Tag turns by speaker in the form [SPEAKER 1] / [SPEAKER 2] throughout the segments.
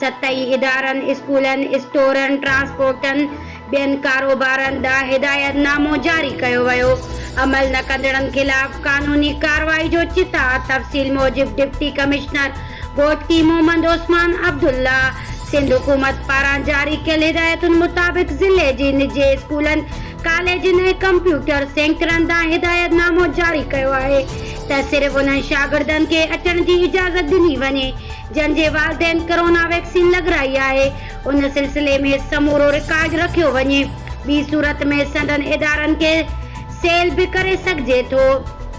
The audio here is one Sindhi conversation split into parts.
[SPEAKER 1] سطحي ادارن، اسڪولن، اسٽورن، ٽرانسپورٽن، ٻين ڪاروبارن ڏانهن هدايت نامو جاري ڪيو ويو، عمل نه ڪندڙن خلاف قانوني ڪارروائي جو چتاء، تفصيل موجب ڊپٽي ڪمشنر گهوٽڪي محمد عثمان عبدالله سنڌ حڪومت پاران جاري ڪيل هدايتن مطابق ضلعي جي نجي اسڪولن، ڪاليجن ۽ ڪمپيوٽر سينڪرن ڏانهن هدايت نامو جاري ڪيو آهي ته صرف انهن شاگردن کي اچڻ جي اجازت ڏني وڃي جن جي والدين ڪرونا ويڪسين لڳرائي آهي ان سلسلي ۾ سمورو رڪارڊ رکيو وڃي ٻي صورت ۾ سندن ادارن کي سيل به ڪري سگهجي ٿو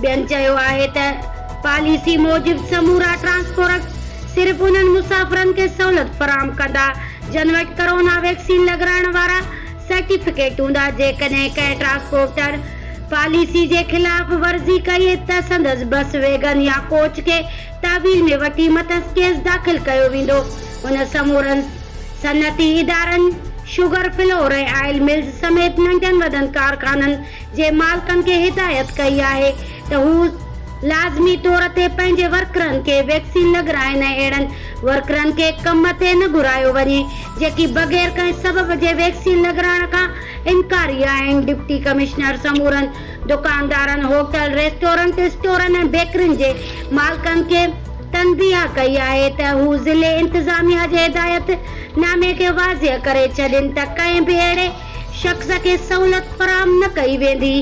[SPEAKER 1] ٻين چيو آهي ته پاليسي موجب سمورا ٽرانسپورٽ صرف انهن مسافرن کي سهولت فراهم ڪندا جن وٽ ڪرونا ويڪسين لڳرائڻ وارا سرٽيفڪيٽ هوندا جيڪڏهن ڪنهن ٽرانسپورٽر پاليسي جي خلاف ورزي ڪئي ته سندس بس ويگن يا ڪوچ کي تحويل ۾ وٺي مٿس ڪيس داخل ڪيو ويندو، هن سمورن صنعتي ادارن، شگر، فلور ۽ آئل ملز سميت ننڍن وڏن ڪارخانن جي مالڪن کي هدايت ڪئي آهي ته هو لازمي طور تي پنهنجي ورڪرن کي ويڪسين لڳرائين ۽ اهڙن ورڪرن کي ڪم تي نه گهرايو وڃي جيڪي بغير ڪنهن سبب جي ويڪسين لڳرائڻ کان انڪاري آهن، ڊپٽي ڪمشنر سمورن دڪاندارن، هوٽل، ريسٽورنٽ، اسٽورن ۽ بيڪرين جي مالڪن کي تنبيهه ڪئي آهي ته هو ضلعي انتظاميا جي هدايت نامي کي واضح ڪري ڇڏين ته ڪنهن به اهڙي شخص کي سهولت فراهم نه ڪئي ويندي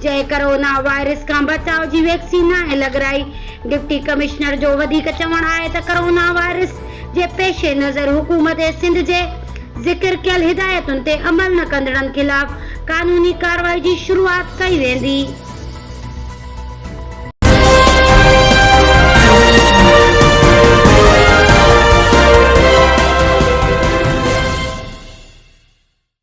[SPEAKER 1] جنهن ڪرونا وائرس کان بچاء جي ويڪسين ناهي لڳرائي. ڊپٽي ڪمشنر جو وڌيڪ چوڻ آهي ته ڪرونا وائرس جي پيش نظر حڪومت سنڌ جي ذڪر ڪيل هدايتن تي عمل نه ڪندڙن خلاف قانوني ڪارروائي جي شروعات ڪئي ويندي.